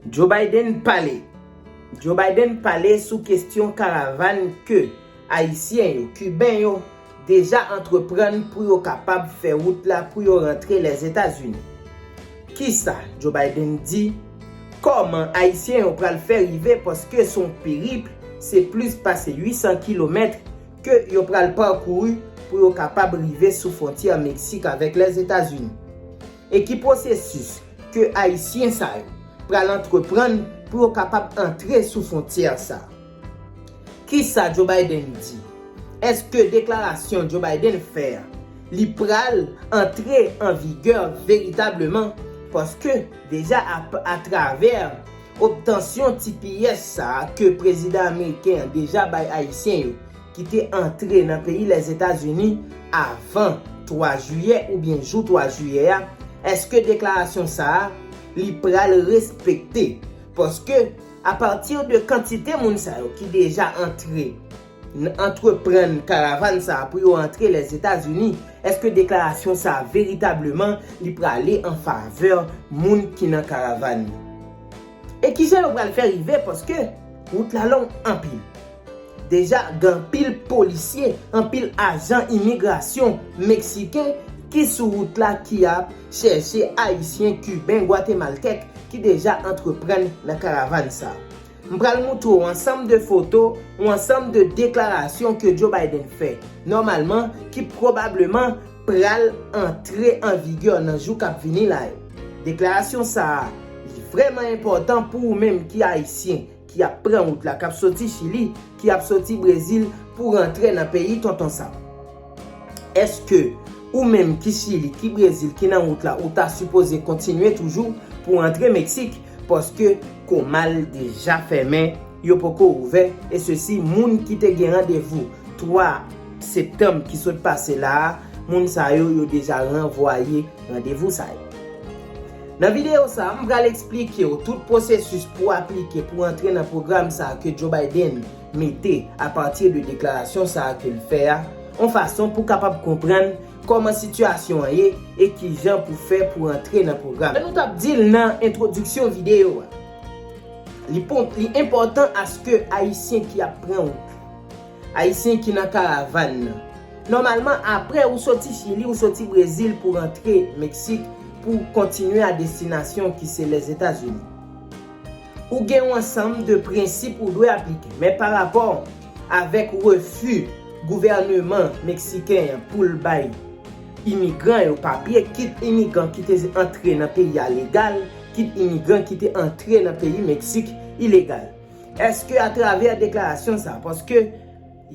Joe Biden pale Joe Biden pale sou kestyon karavan ke Ayisyen yo, Kiben yo, deja antreprann pou yo kapab fè wout la pou yo rantre Lèzetazini. Kisa Joe Biden di? Kòman Ayisyen yo pral fè rive paske s on peripl, se plis pase 800 kilomèt ke yo pral pakouru pou yo kapab rive sou fwontyè Meksik avèk Lèzetazini. E ki pwosesis ke Ayisyen sa yo pral antreprann pou yo kapab antre sou fwontyè sa? Kisa Joe Biden di? Eske deklarasyon Joe Biden fè a, li pral antre an vigè veritableman? Paske, deja atravè obtansyon tipiyès sa ke prezidan ameriken an deja bay Ayisyen yo, ki te antre nan peyi Lèzetazini avan 3 jiyè oubyen jou 3 jiyè a, èske deklarasyon sa a li pral respekte? Paske apati de kantite moun sa yo ki deja antre, antreprann karavan sa a pou yo antre Lèzetazini, èske deklarasyon sa a veritableman li prale an favè moun ki nan karavan yo? E kijan yo pral fè rive paske wout la long anpil? Deja gen anpil polisye, anpil ajan imigrasyon meksiken ki sou wout la ki ap chèche ayisyen, kiben, gwatemaltèk ki deja antreprann nan karavann sa. M pral moutre w ansanm de foto ou ansanm de deklarasyon ke Joe Biden fè, nòmalman ki pwobableman pral antre an vigè nan jou k ap vini la yo. Deklarasyon sa a, li vrèman enpòtan pou ou menm ki ayisyen, ki ap pran wout la, k ap soti Chili, ki ap soti Brezil pou rantre nan peyi Tonton Sam. Èske ou menm ki Chili, ki Brezil, ki nan wout la, ou ta sipoze kontinye toujou pou antre Meksik, paske Comal deja fèmen, yo poko ouvè, e sesi moun ki te gen randevou 3 septanm ki sot pase la a, moun sa yo, yo deja ranvwaye randevou sa yo. Nan videyo sa, m pral eksplike w tout pwosesis pou aplike pou antre nan pwogram sa ke Joe Biden mete a pati de deklarasyon sa ke l fè a, on fason pou kapab konprann kòman sitiyasyon an ye e kijan pou fè pou antre nan pwogram. Jan nou t ap di l nan entwodiksyon videyo a, li enpòtan aske Ayisyen ki ap pran wout. Ayisyen ki nan karavan nan. Nòmalman apre ou soti Chili ou soti Brezil pou rantre Meksik pou w kontinye a destinasyon ki se Lèzetazini. Ou gen yon ansanm de prensip ou dwe aplike. Men pa rapò avèk refi gouvèneman Meksiken an pou l bay imigran yo papye, kit imigran ki te antre nan peyi a legal, kit imigran ki te antre nan peyi Meksik ilegal. Eske a travè deklarasyon sa, paske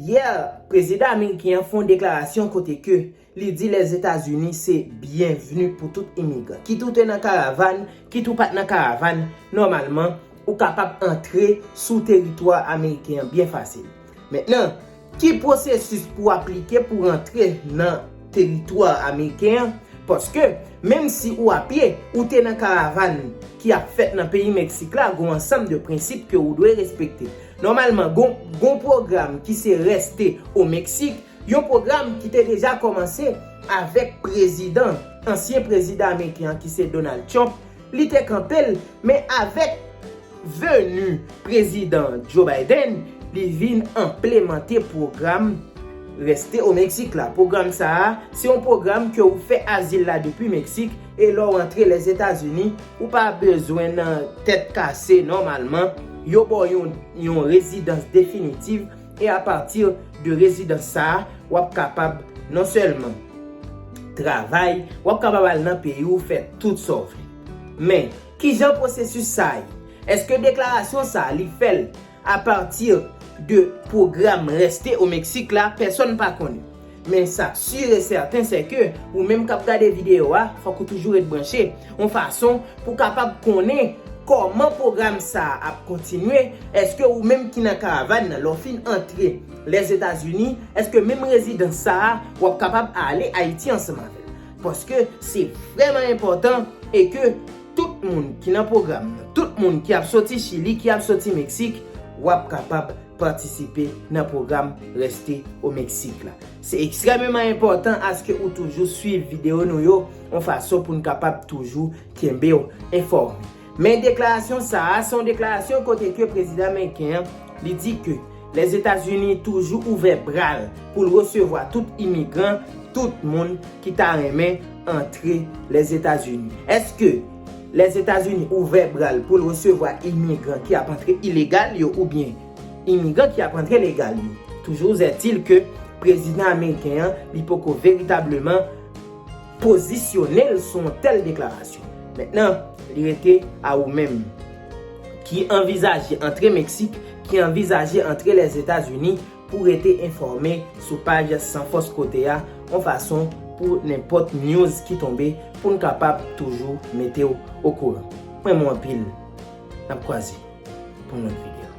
yè prezidan ameriken an fon deklarasyon kote ke li di Lèzetazini se byenvni pou tout imigran. Kit ou te nan karavan, kit ou pat nan karavan, nòmalman ou kapab antre sou teritwa ameriken an byen fasil. Mentnan, ki pwosesis pou aplike pou rantre nan teritwa ameriken an, paske menm si ou apye, ou te nan karavann ki ap fèt nan peyi Meksik la, gon ansanm de prensip ke ou dwe respekte. Nòmalman, gon gon pwogram ki se Reste au Mexique, yon pwogram ki te deja kòmanse avèk prezidan, ansyen prezidan ameriken an ki se Donald Trump, Li te kanpe l, men avèk veni Prezidan Joe Biden, li vin enplemante pwogram Reste au Mexique la. Pwogram sa a, se yon pwogram ke ou fè azil la depi Meksik, e lè w antre Lèzetazini, ou pa bezwen nan tèt kase nòmalman, yo ba w yon rezidans definitiv, E a pati de rezidans sa a, w ap kapab non sèlman travay, w ap kapab al nan peyi w fè tout sa w vle. Men, ki jan pwosesis sa a ye? Èske deklarasyon sa a li fè l a pati de pwogram Reste au Mexique la? Pèsonn pa konnen. Men sa k sur e sèten sè ke ou menm k ap gade videyo a, fòk ou toujou ret branche, yon fason pou w kapab konnen kòman pwogram sa a ap kontinye, èske ou menm ki nan karavàn nan, lè w fin antre Lèzetazini, èske menm rezidans sa a, w ap kapab ale Ayiti ansanm avè l. Paske se vrèman enpòtan e ke tout moun ki nan pwogram nan, tout moun ki ap soti Chili, ki ap soti Meksik, w ap kapab. patisipe nan pwogram Reste au Mexique la. Se ekstrèmeman enpòtan aske ou toujou swiv videyo nou yo yon fason pou n kapab toujou kenbe w enfòme. Men deklarasyon sa a, se yon deklarasyon kote ke prezidan meriken an li di ke Lèzetazini toujou ouvè bra l pou l resevwa tout imigran, tout moun ki ta renmen antre Lèzetazini. Eske Lèzetazini ouvè bra l pou l resevwa imigran ki ap antre ilegal yo oubyen imigran ki ap antre legal yo. Toujourzètil ke prezidan ameriken an li poko veritableman pozisyone l sou yon tèl deklarasyon. Mentnan, li rete a ou menm ki anvizaje antre Meksik, ki anvizaje antre Lèzetazini, pou rete enfòme sou paj San Fòs Kote a yon fason pou nenpòt news ki tonbe pou n kapab toujou mete w okouran. M renmen w anpil. N ap kwaze pou yon lòt videyo.